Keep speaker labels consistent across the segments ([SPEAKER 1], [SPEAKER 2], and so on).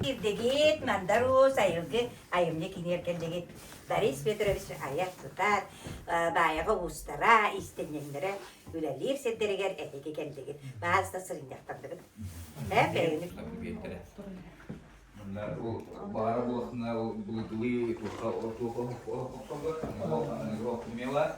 [SPEAKER 1] Ирдэбит, Мандарус, Айылгы айымньы кинигэр кэллигит. Борис Петрович айар сытар, Баайаҕа уустара, иистэнньэҥнэрэ үлэлиир сирдэригэр этики кэллигит. Баас да сырынньахтардыгыт. Ээ, бэйэни Мандар ол баара буолахтына ол былытылыы туоха туоха охсоллор, ол аныгы ох немела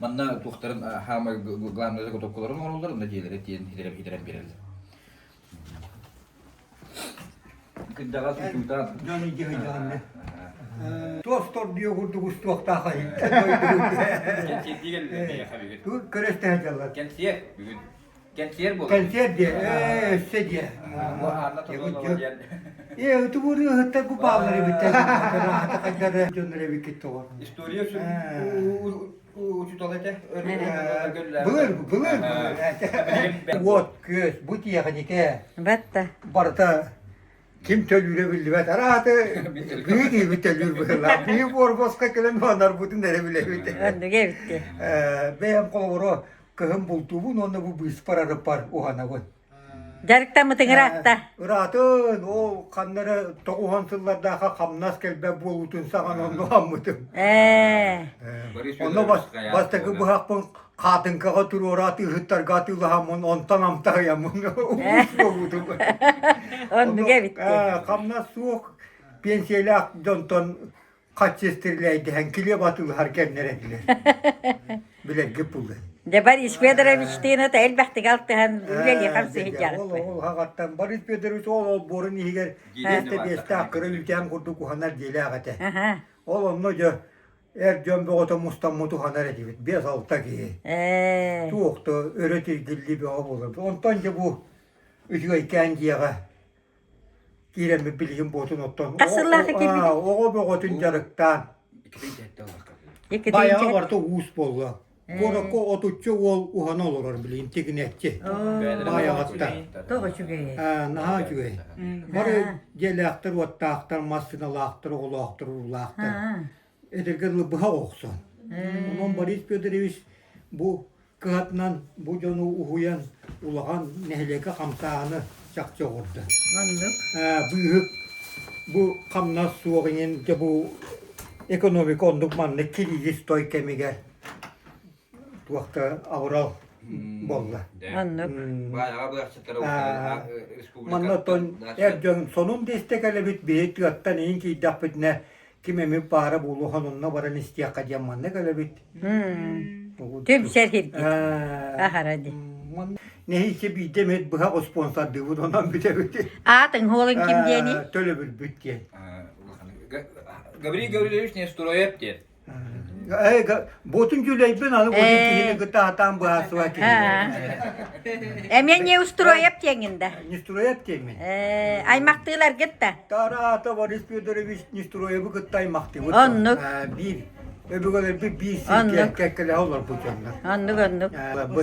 [SPEAKER 1] Манна туохтарын хаамай главнай готовкаларын оҥороллор, онно дьиэлэри тиэн хитэрэн биэрэллэр. Кырдаҕас учуутаан. Дьон идиһэйдэҕиннэ. Туохтордуйа курдук устуохтаах айы. Кэнсиэрдиген Кэриэстэһэ дьаллар. Кэнсиэр бүгүн. Кэнсиэр буолуо. Концерт диэ, ээ, өссө диэ. Бу аанна тобулуо диэн. Ээ, утугуруу ыһыттар бу бааллары бүттэ. Аата хайдары дьоннор эбиккит тоҕор. История үшін учутал этэ. Былыр, былыр, былыр. Вот, күөс, бу тиэхиникэ. Батта. Барыта ким төлүүрэ биллибэт арааты бии диибит төлүүр быһыылаах бии буорбоска кэлэн оонарбытын эрэ билэбит андыга эбитти бэйэм хооборо кыһын бултуубун уонна бу быыспар арыппар уһанабын дьарыктаммытыҥыраатта ыраатын ол ханнары тоҕуһан сыллардаахха хамнас кэлбэт буолуутун саҕан онну хаммытым э онно бастакы быһахпын хаатыҥкаҕа туруора атыыһыттарга атыылаһаммын онтон амтаһыйаммын уус буолуутум оннуга эбитте хамнас суох пенсиялаах дьонтон хаччыстырилэйдэһэн килиэп атыылаһар кэмнэрэллэр билэргэ пулын Дебар Иш Федоровичтыына та элбэхтик алтыһан үлэлиэхам сыһыдьаахпы. Ол хаҕаттан Борис Федорович ол олбуорун иһигэр биэстэ биэстээх кыра үлтээн курдук уһанар диэлээх этэ. Ол онно дьэ эр дьон бөҕөтө мустаммыт уһанар этибит биэс-алта киһи. Ээ. Туох да өрө тиргиллии бөҕө буолар. Онтон дьэ бу үчүгэйкээн дьиэҕэ киирэммит билигин буотун оттон. Хас сыллаах экирбитин? Оҕо бөҕөтүн дьарыктаан. Икитин дьэттэ олохха. Байаҕа барыта уус буолла. Куоракка отучча уол уһана олорор билин тигинэччи. Баайаҕатта. Тоҕо үчүгэй? Наһаа үчүгэй. Бары дьиэлээхтэр, уоттаахтар, массыыналаахтар, оҕолоохтар, уруулаахтар. Эдэргэ дылы быһа охсон. Онон Борис Федорович бу кыһатынан бу дьону уһуйан, улахан нэһилиэкэ хамсааһыны чахчы оҕурдан. Маннык. Быыһык бу хамнас суох иҥин дьэ бу экономика оннук маннык кириги стой кэмигэр туохта аврал болла. Маннык. Манна тон эр дьон сонун десте кэлебит бии тыаттан иһин киирдэхпитинэ ким эмит баара буолуо сонунна баран истиэххэ диэн маннык өлөбүт түмсэр кирдик аһара ди нэһиичэ биирдэ эмит быһах успуонсардыыбыт онон бүтэбит аатын хуолун ким диэни төлөбүрбүт диэн Гаврил Гаврилович Нестроев диэн Буотун дьулайбын аны бутун киһини кытта атаан быһаарсыбат киһи. Эмиэ не устроеп тиэҥин да. Нестроят киэммин. Аймахтыылар гытта. Тараата Борис Федорович Нестроебы кытта аймахтыбыт. Оннук. Биир Өбүгэлэрбит биир сиргэ кэккэлэһэ олорбут дьоннор. Оннук, оннук. Бу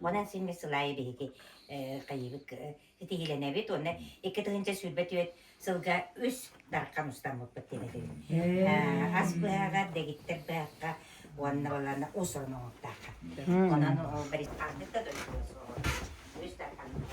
[SPEAKER 1] Онон син сыл аайы биһиги кыйыбыт ситиһилэнэбит уонна икки тыһыынча сүүрбэт үөт сылга үс дархан устаммыппыт диэн ас быһаҕар, дэгиттэр быһахха уонна балана ус оноҥоттаахха. Онон ол барис ардык да дойдуга суоҕу үс дарханыммыт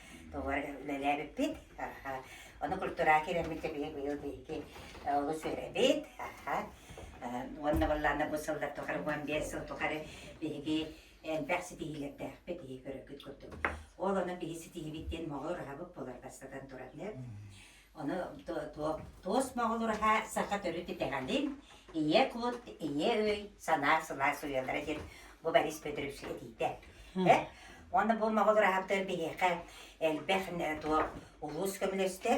[SPEAKER 1] Тугура үлэлээбиппит. Ону культура киириммит биһи быйыл биһиги олус үөрэбит. Уонна буоллаана бу сыллар тухары уон биэс сыл тухары биһиги элбэх ситиһиилэрдээхпит биһи көрөргүт курдук. Ол ону биһи ситиһибит диэн моҕо ураһабыт буолар бастатан туран. Ону туос моҕолураһа саха төрүт итэҕэлин ийэ кут, ийэ өй, санаа сылаас уйалара диэн бу Борис Петрович этиитэ. Уонна бу моҕолураһаттар биһиэхэ элбэх улуус көмөлөстө,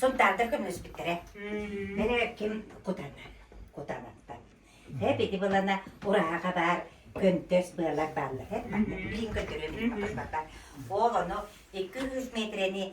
[SPEAKER 1] Сунтаардар көмөлөспүттэрэ. Мэлэ ким кутанан, кутанаттан. Э били былана ураһаха баар көнтөс быалар бааллар. Билин көтөрө билбаттар. Ол ону 200 метрeni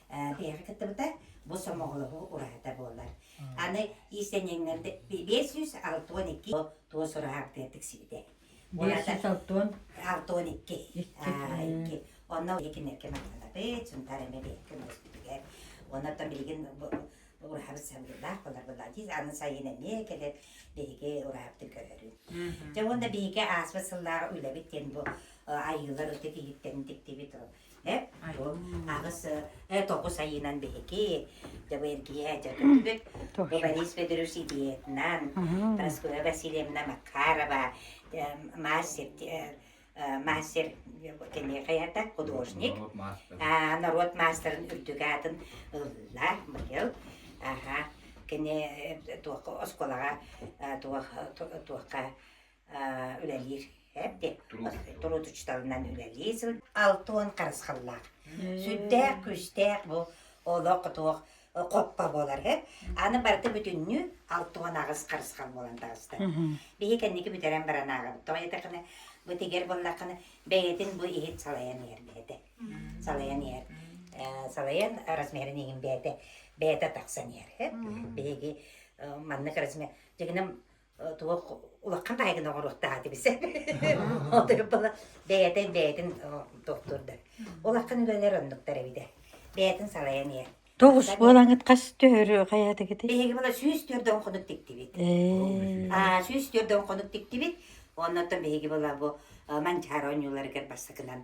[SPEAKER 1] Биһиэхэ кыттыбыта бу сомоҕолоһуу ураһата буолар. Аны иистэнньэҥнэрдэ биэс сүүс алта уон икки туос ураһа актыар тиксибитэ. Биэс сүүс алта уон алта уон икки. Икки. Онно икиннэргэ махтанабыт, Сунтаар эмэ бэйэккэ мөспүтүгэр. Оннортон билигин ураһабыт сабыыллаах болар быллаан тиис аны сайын эмиэ кэлэт биһиги ураһабытын көрөрүн. Дьэ уонна биһиги ааспыт сыллааҕы үлэбит диэн бу айыылар ытык иһиттэн тиктибит Эп, аҕыс э тоҕус айыынан биһики дьабыйар киһэ дьэ көппүт. Бу Борис Федоров ситиһиэтинэн, Прасковья Васильевна Макарова, мастер мастер киниэхэйэрдэ художник, норуот маастарын үрдүк аатын ылла быйыл. Аха, кини туох осколаҕа туох туохха үлэлиир эппи туруутучтарынан үлэлии сыл алты уон харысхаллаах сүрдээх күүстээх бу олох туох хоппо буолар э аны барыта бүтүннүү алты уон аҕыс харысхал буолан таҕыста биһи кэнники бүтэрэн баран ааҕабыт тоҕо диэтэххинэ бу тигэр буоллаххына бэйэтин бу иһит салайан иһэр бэйэтэ салайан иһэр салайан размерин иһин бэйэтэ бэйэтэ тахсан иһэр биһиги маннык размер дегенем тугу улахан айгын оҕоруохтаах этэ бисэ отуйуппала бэйэтин бэйэтин тохтур да улахан үлэлэр оннуктар эбитэ бэйэтин салайан иһэр тоҕус буолаҥыт хас төһөрү хайатыгыты биһиги мала сүүс төрдөн хонук тиктибит аа сүүс төрдөн хонук тиктибит оннуттан биһиги была бу манчаар оонньууларыгар бассакынан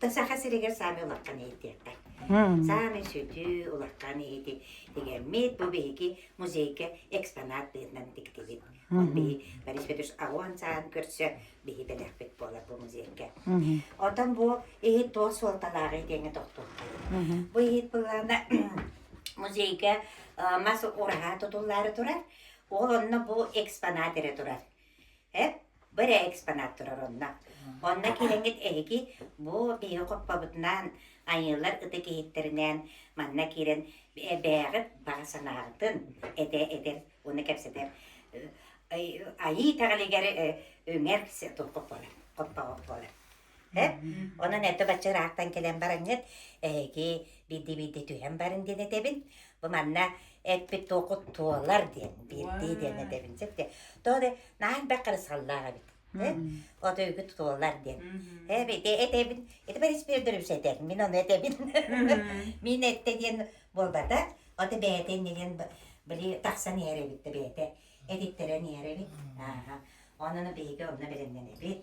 [SPEAKER 1] то саха сиригэр саамай улахан иһитиэххэ саамай сүтүү улахан иһити тигэммит бу биһиги музейга экспонат быһынан тиктибит он биһи борис петрович аҕуон саан көрсө биһи бэлэхпит буолар бу музейга отон бу иһит туос суолталааҕы итиэҥэ тохтуоххайы бу иһит былаана музейга мас ураһаа тутуллаары турар ол онно бу экспонат эрэ турар Эп, бу эрэ экспонат турар онно. Онно киирэҥҥит эһиги бу биһиги хоппобутунаан айыылар ытык иһиттэринээн манна киирэн эбээҕит баҕа санааҕытын этэ этэр уонна кэпсэтэр э, айыы итэҕэлигэр э, үҥэр хоппоҕут буолар. Эп, онон этэ бачча ыраахтан кэлэн бараҥҥыт, эһиги биирдии-биирдии түһэн барын диэн этэбин. Бу манна эппит туохут туолар диэн, биирдии диэн этэбин. Сөп диэн. Тоҕо да наһаа элбэх харысхаллаах эбит. Э? От өйгү тутулар диэн. Эб, ити этэбин. Ити Борис Федорович этэр. Мин ону этэбин. Мин этэ диэн буолбата. Ото бэйэтэ иннигин били тахсан иһэр эбит да бэйэтэ. Эдиттэрэн иэрэбит. Ааһа. Онно биһиги онно бэлэмнэнэбит.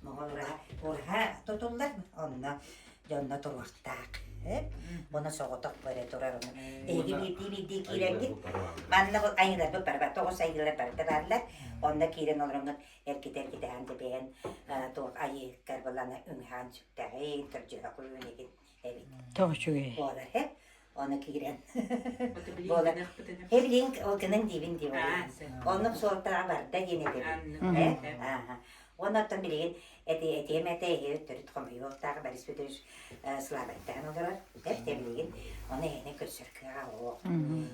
[SPEAKER 1] Оҕолоро кураһа тутуллар, онно дьонно туруохтаах. Буна соҕотох бары турар ону. Эһиги биирдии биирдии киирэҥҥит. Манна бу айыыларбыт бары бар. Тоҕус айыылар барда бааллар. Онно киирэн олороҥҥут эргитэ-эргитэһэн тэбиһэн туох айыыгар былана үҥһээн сүктэҕин, кырдьыһа куйуун игин эбит. Тоҕо үчүгэй. Буолар һэ. Онно киирэн. Эвлинг ол гынан диибин дии Оннук суолтаҕа барда диэн этэбин. Онно оттон билигин этиэм этэ эһиэт төрүт хомойуохтаах Борис Петрович слабайдаан олорор. Тэп тэбилигин оны эһэне көрсөр кыаҕа олох.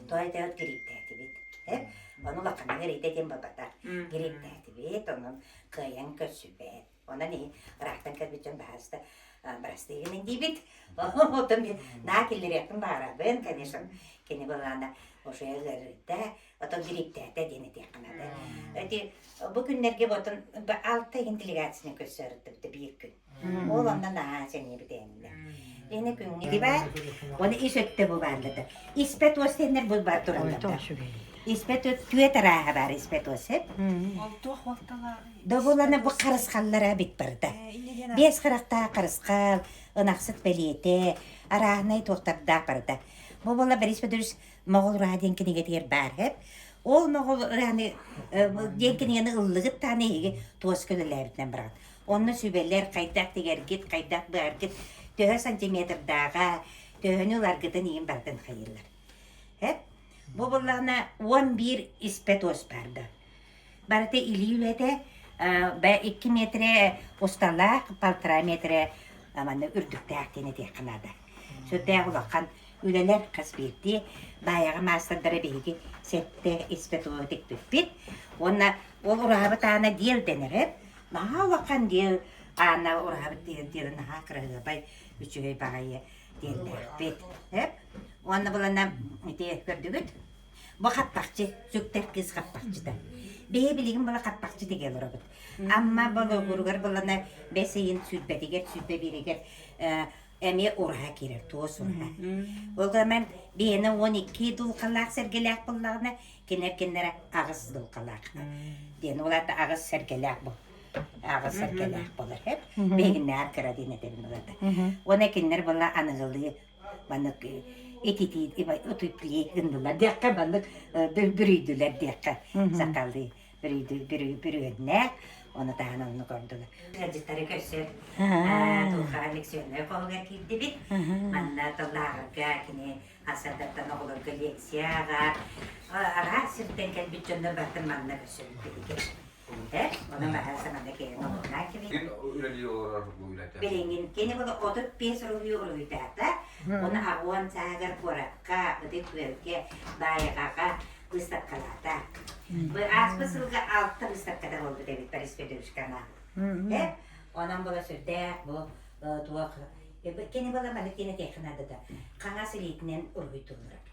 [SPEAKER 1] Той теот гриптээтибит. Тэп ону лаканын эрийтэтин бабата. Гриптээтибит онон кыайан көрсүбэт. Онон иһин ыраахтан кэлбит дьон баһаалыста бырастыыгынан диибит. Оттон мен на киллэриэхпин баҕарабын, конечно, кини былаана уже ылырда, оттон дириктээтэ диэн этиэххэ наада. Эти бу күннэргэ ботон алта иһин делегацияны көрсөрүттүбүтэ биир күн. Ол оннан аа сэнии битээнинэ. Лене күнгилибат, оны ис өттө бу баардыта. Испэт остеннер бу бар тураллар. Испэт түөт арааһа бар испэт осеп. Ол туох уолталааҕын? Да буолана бу харысхаллара эбит барыта. Биэс харахтаах харысхал, ынахсыт бэлиэтэ, арааһынай туохтардаах барыта. Бу буола Борис Федорович Моҕол ураһа диэн кинигэтигэр баар эб. Ол Моҕол ураһаны диэн кинигэни ыллыгыттаан эһиги туоска үлэлээбитинэн бараҕыт. Онно сүбэлэр хайдах тигэргит, хайдах быаргыт төһө сантиметрдааҕа, төһөнү ыларгытын иин барытын хайыыллар. Эп. Бу буоллаана он биир испэт уос баар да. Барыта илии үлэтэ бэ икки метрэ усталаах полтора метрэ манна үрдүктээх диэн этиэххэ наада. Сүрдээх улахан үлэлэр хас биирдии баайаҕа маастардара биһиги сэттэ испэ туоһу тикпиппит. Уонна ол ураһабыт аана диэл дэнэрэ. Наһаа улахан диэл аана ураһабыт диэл диэл наһаа кыраһыабай үчүгэй баҕайы диэллээхпит. Уонна булана ити көрдүгүт? Бу хаттахчы, сүктэр кыыс хаттахчыта. Бэйэ билигин була хаттахчы тигэ олоробут. Амма Болугуругар булана бэс ыйын сүүрбэтигэр, сүүрбэ бииригэр эмиэ ураһа киирэр туос ураһа. Ол гынан бэйэни уон икки дулкалаах сэргэлээх буллаҕына, кинер киннere аҕыс дулкалаах. Диэн ол аата аҕыс сэргэлээх бу. Аҕыс сэргэлээх болор. Бэйигиннээх кыра диэн этэрин улата. Уона киннер була аныгылыы маннык ититии утуплей гыннылар диэххэ маннык бүрүйдүлэр диэххэ сакалыы бүрүөннээх оны таһынан ону көрдүлэр ыалдьыттары көрсөр тулхаан лекционнай хоһугар киирдибит манна тыллааҕарга кини ансардаттан оҕолорго лекция аҕа араас сиртэн кэлбит дьоннор бартын манна көрсөбүт биһиги Уута, ону маһы саманы кэйэн олорнаа кэбин. Кин үлэлии олорор бу үлэтэ. Билиҥҥин кини була отут пес уруһуйу уруһуйдаата. Оны агуон саагар куоракка, ытык күөлгэ, баайҕаҕа быстаккалаата. Бу ааспы сылга алта быстакката буолбут эбит Борис Федоровичкана. Онон була сүрдэ бу туох кини була малитина технадата. Қаңас илиитинен уруһуйтуллар.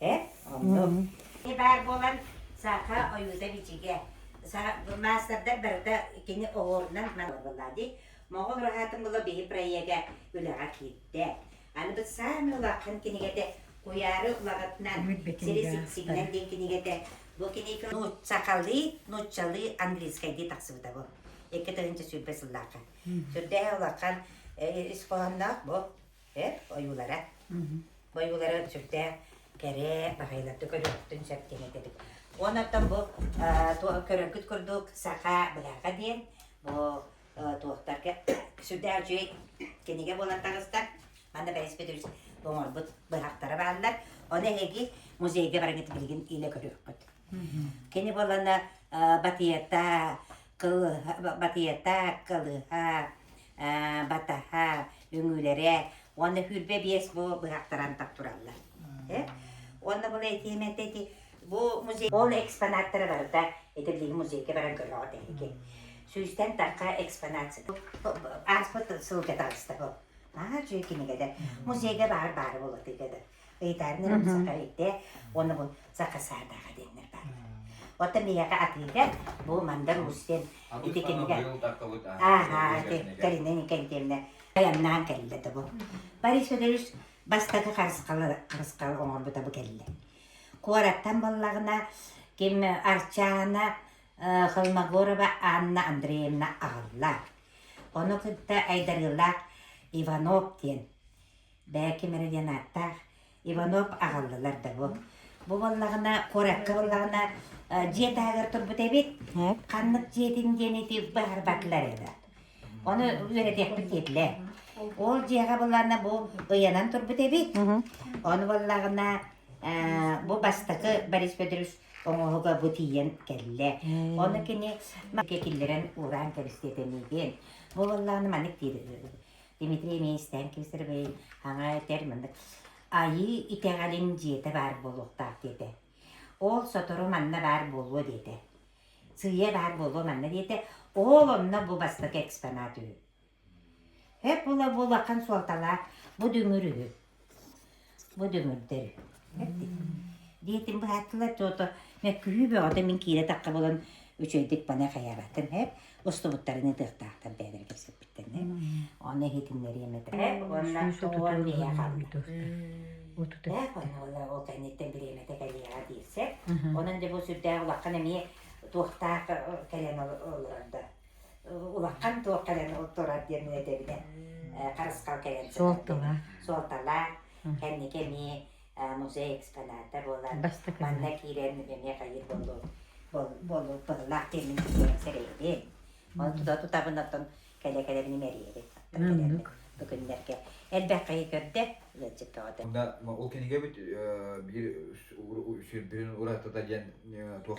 [SPEAKER 1] Ээ, оннук. Ити баар буолан, саха ойуута бичигэ. Маастардар барыта кини оһуорунан маныллаллар дии. Моҕол ураһаатын булла биһи проега үлэҕэ киирдэ. Аныбыт саамай улахан кинигэтэ Куйаары улаҕатынан сири сигнал диэн кинигэтэ. Бу кинигэ нууччалыы, нууччалыы, английскайдыы тахсыбыта бу. Икки тыһыынча сүүрбэ сыллаахха. Сүрдээһэ улахан, ис хоһоонноох бу. эр ойуулара ойуулара сүрдээх кэрэ баҕайыларга көрүөхтүн сөп диэн этэбит уон оттон бу көрөргүт курдук саха быһаҕа диэн бу туохтарга сүрдээх үчүгэй кинигэ буолан таҕыста манна бэрэспит оҥорбут быһахтара бааллар ону эһиги музейга барыҥыт билигин илэ көрүөххүт Кини буолана батыйата, кылыһа, батыйата, кылыһа, батаһа, үҥүүлэрэ уонна хүрбэ биэс бу быһахтаран тап тураллар. Э? Уонна була этиэм этэ ити бу музей ол экспонаттара барыта ити билиги музейга баран көрөҕүт эһиги. Сүүстэн такка экспонация. Ааспыт сылга таҕыста бу. Аа, дьүө кинигэтэ. Музейга баар баары болотыгада. ыйытаарын эрэ саха өйдө оны бу саха саатаха диэннэр баалар оттон миэхэ атыыта бу мандар уус диэн ити кинигэ аа ити кэлинэн кэнтиэмнэ айаннаан кэллэ да бу борис федорович бастакы харысхалы харысхал оҥорбута бу кэллэ куораттан боллаҕына ким арчаана холмогорова анна андреевна аҕалла ону кытта айдарыылаах иванов диэн Бээки Мэри диэн ааттаах Иванов аҕаллылар да буо. Бу буоллаҕына, куоракка буоллаҕына, дьиэ таһыгар турбут эбит. Ханнык дьиэтин диэн ити быһарбатылар еді. Оны үөрэтиэхпит диэтилэр. Ол дьиэҕэ буллаҕына бу ыйанан турбут эбит. Оны буоллаҕына, бу бастакы Борис Федорович оҥоһуга бу тиийэн кэллэ. Оны кини киллэрэн уураан кэбистиэтэмиитин. Бу буоллаҕына маннык диир Дмитрий эмиэ истээн Кисаровой хаҥа этэр манна Айыы итэҕэлин дьиэтэ баар буолуохтаах диэтэ. Ол сотору манна баар буолуо диэтэ. Сыыйа баар буолуо манна диэтэ. Ол онно бу бастакы экспонат үһү. Эп була-булахан суолталаах бу дүҥүр үһү. Бу дүҥүрдэр эрдик. Диэтим быһааттылар, то-то мөккүһүү бөҕөтө мин киирэ-тахха булан үчүгэйдик пане хайаабаттым эп, устубуттарын ытыахтаахтар бэйэлэрэ кэпсэппиттэн эп. Ону иһитиннэриэм этэ уонна уон иһэ хаалбыта. Ээх уонна ол кэнниттэн бириэмэтэ кэлиэҕэ диир сэр. Онон дьэ бу сүрдээх улахан эмиэ туохтаах кэлэн олорор да. улахан туох кэлэн турар диэн үөдэбинэн харысхалкайан сытардым суолталаах кэнники эмиэ музей экспоната буолар манна киирэн эмиэ хайыыр буоллуллаах диэмин сэрэйдиэм ол тута тутабынаттан кэлэ кэлэ мин мэрийэри бу күннэргэ элбэх хайы көрдө ол кинигэбит биир сирбин уратыта диэн туох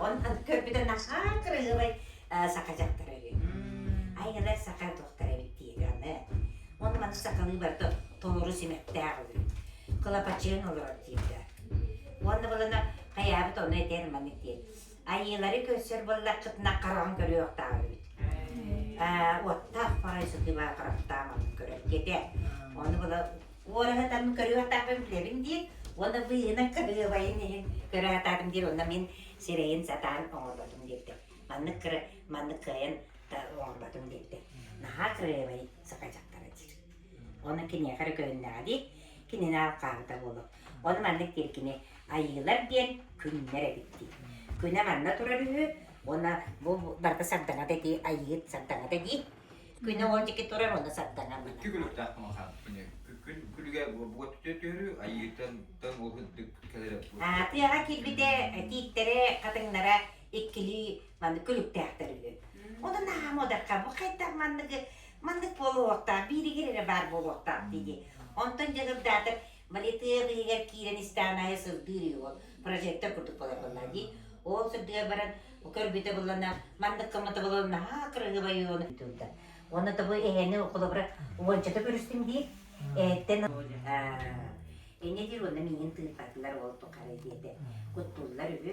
[SPEAKER 1] Он аны көрбүтэ наһаа кырыылай саха дьахтара үһү. Айгылар саха туохтара эбит диэри аны. Он маны сахалыы барыта толору симэхтээх үһү. Кылапачыын олорор диирдэ. Уонна балана хайаабыт ону этэр маны диэн. Айыылары көрсөр боллаххытына хараҕын көрүөхтээх эбит. Э, уоттаах парай сытыылаах хараптаах маннык көрөр диэтэ. Ону бала Уораһатарым көрүөхтаахпын билэбин диир уонна быыһынан кырыабайын иһин көрө сатаатым диир уонна мин сирэйин сатаан оҥорботум диирдэ. Маннык кыра маннык кыайан оҥорботум диирдэ. Наһаа кырыабай сахайдьахтара диир. Ону киниэхэ эрэ көһүннэҕэ дии кинини хаалта буолуо. Ону маннык диир кини айыылар диэн күннэр эбит дии. Күнэ манна турар үһү уонна бу барыта сардаҥата дии, айыы сардаҥата дии. Күнү оҕо диэки турар онно сарданар мана. Икки күнүрдээх махан. Күн күлүгэ буот түтөрү айыытан тан ол һыддык кэлэрэ буо. Тыаҕа киирбитэ тииттэрэ хатыҥнара иккилии маннык күлүктээхтэр үһү. Ону наһаа модерка бу хайдах манныгы маннык буолуохтаах бииригир эрэ баар буолуохтаах дии. Онтон дьыгырдаатар Малитыев иһигэр киирэн истэҕин аайы сырдыыр үһү ол прожектор курдук буолаллар дии. Ол сырдыга баран көрбүтэ буллана маннык коммутабылын наһаа кырыһыбайы оны турда. Оны табы эһэни холобура уончата көрүстүм дии. Эттен Эне дир онна миин тыыпатылар ол тухары диэте. Куттуллар үһү.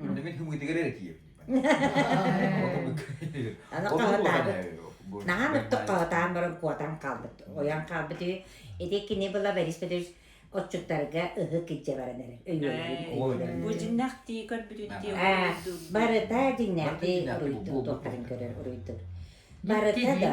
[SPEAKER 1] Онно мин һымыытыгар эрэ тиийэбин. Аны куотаары наһаа ыныртык куотаан баран куотан хаалбыт ойон хаалбыт үһү. Ити кини была Борис Петрович отчуттарга ыһык илдьэ баран эрэр өйүөллүүн бу дьиҥнэхтии көрбүтүттүү барыта дьиҥнэхтии уруйдуур туохтарын көрөр уруйдуур барыта да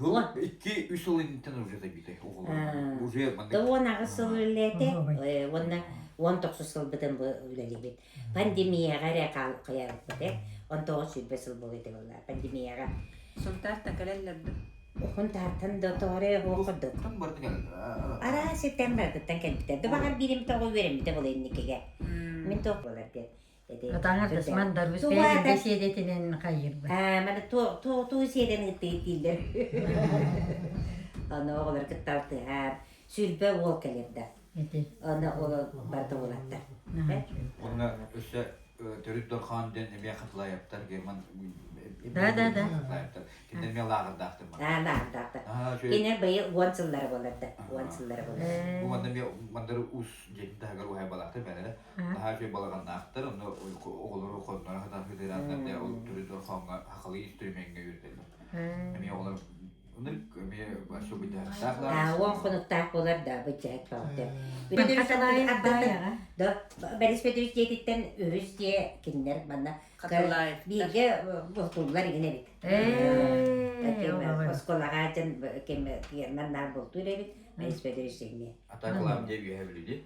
[SPEAKER 1] Ыла икки үс сыл инниттэн ырдьата биитэй оҕолорум уже маннык Да уон аҕыс сыл үлэлээтэ уонна уон тохсус сылбытын бу үлэлиибит. Пандемияҕа эрэ хаалбыта. Он тоҕус сүүрбэ сыл буолуо этэ буолла пандемияҕа. Сунтаартан кэлэллэрбит. Хунтаартан да тоҕорэ оһуох курдук. Тан барды кэлбитэ. Араас сиртэн барытыттан кэлбитэ. Дубаҕар бииримит оҕо үөрэммитэ була инникигэ. Мин тоох буолар диэн. Атаҥа тасман даруйскай илдэ сиэдэтинэн хайыырбыт. Маны туу сиэдэн ыыттыйыттииллэр. Ону оҕолор кытта алтыһар. Сүлбэ уол кэлэрдэ. Ону ол барыта уолаттар. Онно өссө төрүт дорҕоон дэн эмиэ хатылаайаптар герман да да да кинилэр эмиэ лааҕырдаахтар аа лааҕырдаахтар кинилэр быйы уон сыллара боларда уон сыллара болар бу манна эмиэ мандары уус дьиэтин таһыгар уһайбалаахтар бэлэрэ наһаа үчүгэй балаҕаннаахтар онно оҕолору хонноро хатан сытыырааннар да ол түрүтүн хоҥҥо хахалыы стримиҥҥэ үөрдэллэр эмиэ оҕолор эмиэ бачча быдьааттаах да уон хонуктаах буолар да быдьаат да бэрэспэдириттиэтиттэн үһүс дьиэ кинилэр манна бииргэ бултууллар игин эбит осколаҕа дьон кэмнэр наар бултуур эбит бэрэспэдириссиҥҥэ атаакылаам диэ үөһэ бүлүдэ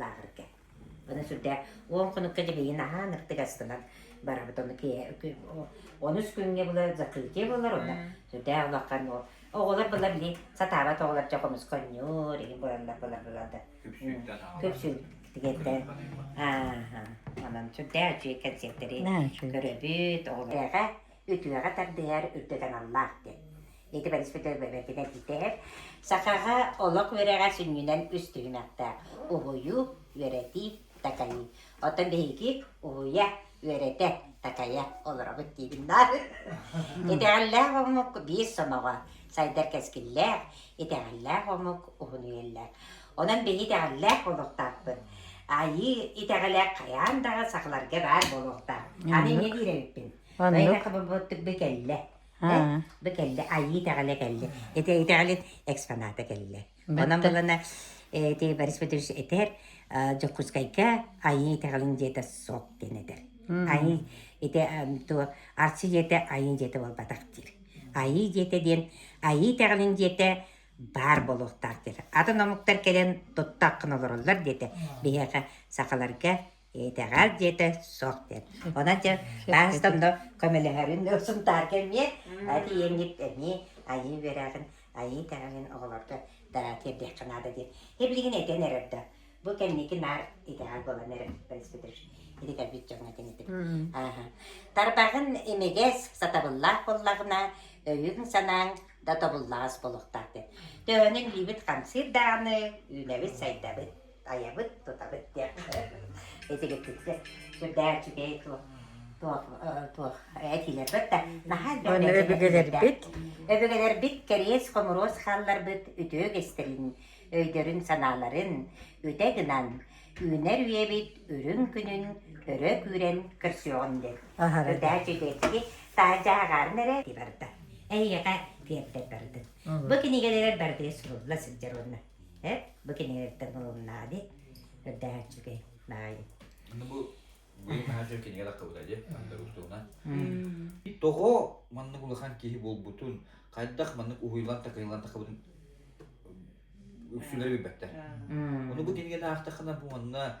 [SPEAKER 1] лааҕырга. Ону сүрдээх уон хонукка дьимийин аһаан ыртыгастынан барабыт ону онус күҥҥэ былы закрытие болар онна сүрдээх олохха ну оҕолор былар ли сатаабат оҕолор жа хомусконньуур ини бураллар былар былар да күпсүн тигеттен аа онон сүрдээх үчүгэй концерттери көрөбүт оҕолорга үтүөҕэ тардыһар, үрдэтэн аллаах диэн. Ити Борис бэйэтин этиитэр. Сахаҕа олох үөрэҕэ сүнньүнэн үс түһүмэхтээх уһуйуу, үөрэтии, такайыы. Оттон биһиги уһуйа, үөрэтэ, такайа олоробут диибин да. Итэҕэллээх омук биир сомоҕо, сайдар кэскиллээх, итэҕэллээх омук уһун үйэллэр. Онон биһи итэҕэллээх буолуохтаахпыт. Айыы итэҕэлэ хайаан даҕа сахаларга баар буолуохтаах. Аны инньэ диир эбиппин. Оннук. Бу кэллэ. Бу кэллэ. Айыы итэҕэлэ кэллэ. Ити итэҕэлин экспоната кэллэ. Онон булана ти Борис Петрович этэр Дьокуускайга айыы итэҕэлин дьиэтэ суох диэн этэр. Айыы ити то арчы дьиэтэ айыы дьиэтэ буолбатах диир. Айыы дьиэтэ диэн айыы итэҕэлин дьиэтэ баар болуохтаах диир. Атын омуктар кэлэн туттаккын олороллор диэтэ. Биһиэхэ сахаларга Итэҕэл диэтэ суох диэн. Онон дьэ таастан да көмөлөһөрүн Сунтаар кэмҥэ тиийэҥҥит эмиэ айыы үөрэҕин, айыы итэҕэлин оҕолорго да тиэрдиэххэ наада диир. Һэ билигин этэн эрэр да, бу кэнники наар итэҕэл буолан эрэр бөлөспөтөр ити кэлбит дьоҥҥо этиниттин. Ааһа. Тарбаҕын имигэс, сатабыллаах буоллаҕына, өйүҥ-санааҥ да тобуллаҕас буолуохтаах диэн. Төһөнүн илиибит хамсыыр даҕаны, үүнэбит-сайдабыт тайабыт, тутабыт диэххэ. Итигитиксе сүрдээх үчүгэй туох туох туох этилэрбит да наһаа элбэх өбүгэлэрбит өбүгэлэрбит кэриэс хомуруос хаалларбыт үтүө үгэстэрин өйдөрүн санааларын үтэ гынан үүнэр үйэбит үрүҥ күнүн өрө күүрэн көрсүөҕүн дэн үрдээ үчүгэйдики таажаагаарын эрэ барда эйиэхэ тиэрдэр бардын бу кинигэлэрэр бардыга сурулла сылдьар уонна Эт, бу кинигэлэртэн ылыннаа ди. Көрдөөһөөччүкэй баайы. Ну бу быйыл наһаа дьон кинигэ таххабыта де, анда устуунан. Тоҕо маннык улахан киһи буолбутун, хайдах маннык уһуйулан-такайылан тахабытын үксүлэрэ билбэттэр. Ону бу кинигені аахтаххына бу манна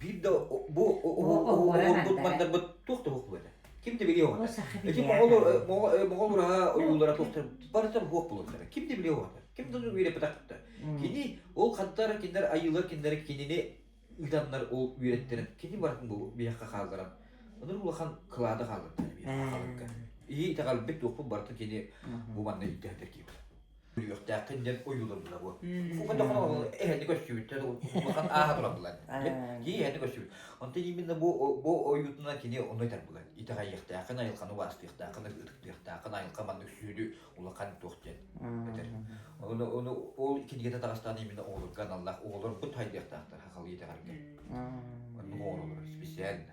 [SPEAKER 1] биир да бу уолбут мандарбыт туох да уһук этэ ким да билиэ оҕото ити моҕолор моҕолор аһа ойуулара туохтар барыта уһук болуохтара ким да билиэ оҕото ким да үөрэппэтэхтэр кини ол хантар киндер айыылар киндер кинини ыданнар ол үөрэттэрин кини барытын бу биһэххэ хаалларан ыныр улахан кылааты хаалларда халыкка ии итэҕэлбит туохпут барытын кини бу манна ирдэхтэр киһи Үһүөхтээххин диэн ойууланна буо. Эһэни көрсүбүттэр, улахан ааһа турабылар. Кии эһэни көрсүбүт. Онтон именно бу бу ойуутунан кини онной тарбылар. Итэҕэйиэхтээххин, айылханы убаастыахтааххын, ытыктыахтааххын, айылха маннык сүүнү улахан туох диэн этэр. Оны оны ол кинигэтэ таҕыстаан именно оҕолорго аналлаах оҕолорбут хайдыахтаахтар хахал итэҕэргэ. Ону оҕолор специально.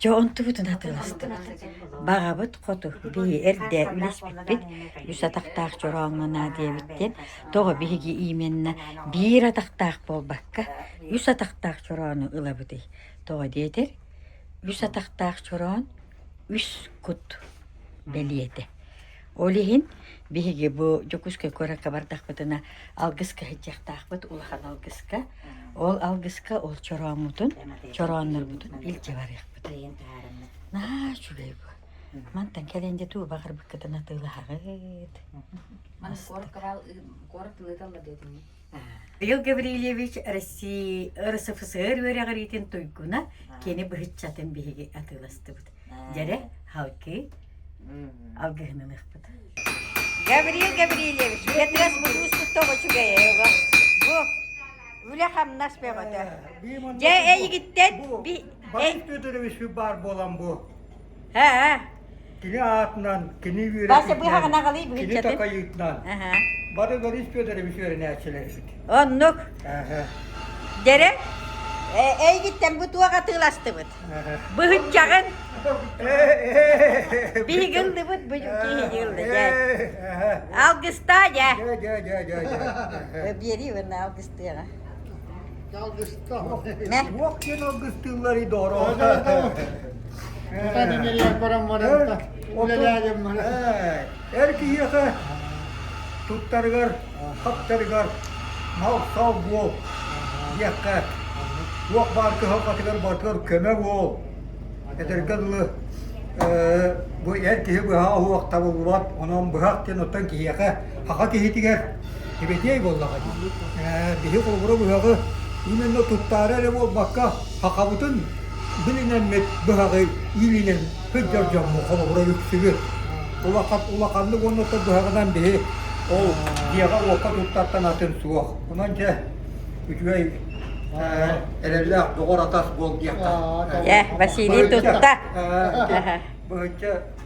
[SPEAKER 1] Чэ онтубутун атыыластыбыт. Баҕабыт хоту биһи эрдэ үлэспиппит үс атахтаах чорооҥҥо наа диэбиттэн тоҕо биһиги именна биир атахтаах буолбакка үс атахтаах чороону ылабытый? Тоҕо диэтэр үс атахтаах чороон үс кут бэлиэтэ. Ол иһин биһиги бу Дьокуускай куоракка бардахпытына алгыска сылдьыахтаахпыт улахан алгыска. Ол алгыска ол чорооммутун, чорооннорбутун илдьэ барыахпыт. Наа үчүгэй бу. Мантан кэлэн де туу баҕарбыккытын атыылаһаҕыт. Маны куорат кыраал куорат тылыталла диэтиҥ. Михаил Гаврильевич России РСФСР үөрэҕириитин туйгуна, кини быһыччатын биһиги атыыластыбыт. Дьэрэ, халкы, алгыһынан ыкпыт. Гавриил Гаврильевич, Петрас мудууспутта очугайыга. Бу үлэ-хамнас бөҕөтө. Дьэ, эйигиттэн би... Борис Федорович баар буолан бу. Ээ. Кини аатынан, кини үөрэпитинэн, кини такайыытынан бары Борис Федорович үөрэнээччилэрбит. Оннук. Дэрэ, эйгиттэн бу туох атыыластыбыт? Быһыччаҕын. Биһигилдибит бу киһигилди дьэ. Алгыста дьэ. Биэри уонна алгыстыаҕа. Суох диэн алгыстыылларый доҕороо. Эр киһиэхэ туттарыгар, хаптарыгар мал-сал буол диэххэ, туох баар кыһалҕатыгар барытыгар көмө буол. Эдэргэ дылы бу эр киһи быһа уһуох табыллыбат, онон быһах диэн оттон киһиэхэ, саха киһитигэр Сибэтиэй буоллаҕа дии. Ээ, биһи холобура быһаҕы именно туттаары эрэ буолбакка, хахабытын билинэммит быһаҕы иилинэн сылдьар дьоммут холобура үксүбүт. Улахан улаханнык уонна ото быһаҕынан биһи ол дьиэҕэ-уокка туттартан атын суох. Онон дьэ, үчүгэй э, эрэллээх доҕор атас буол диэххэ. Э, Василий тутта. Быһычча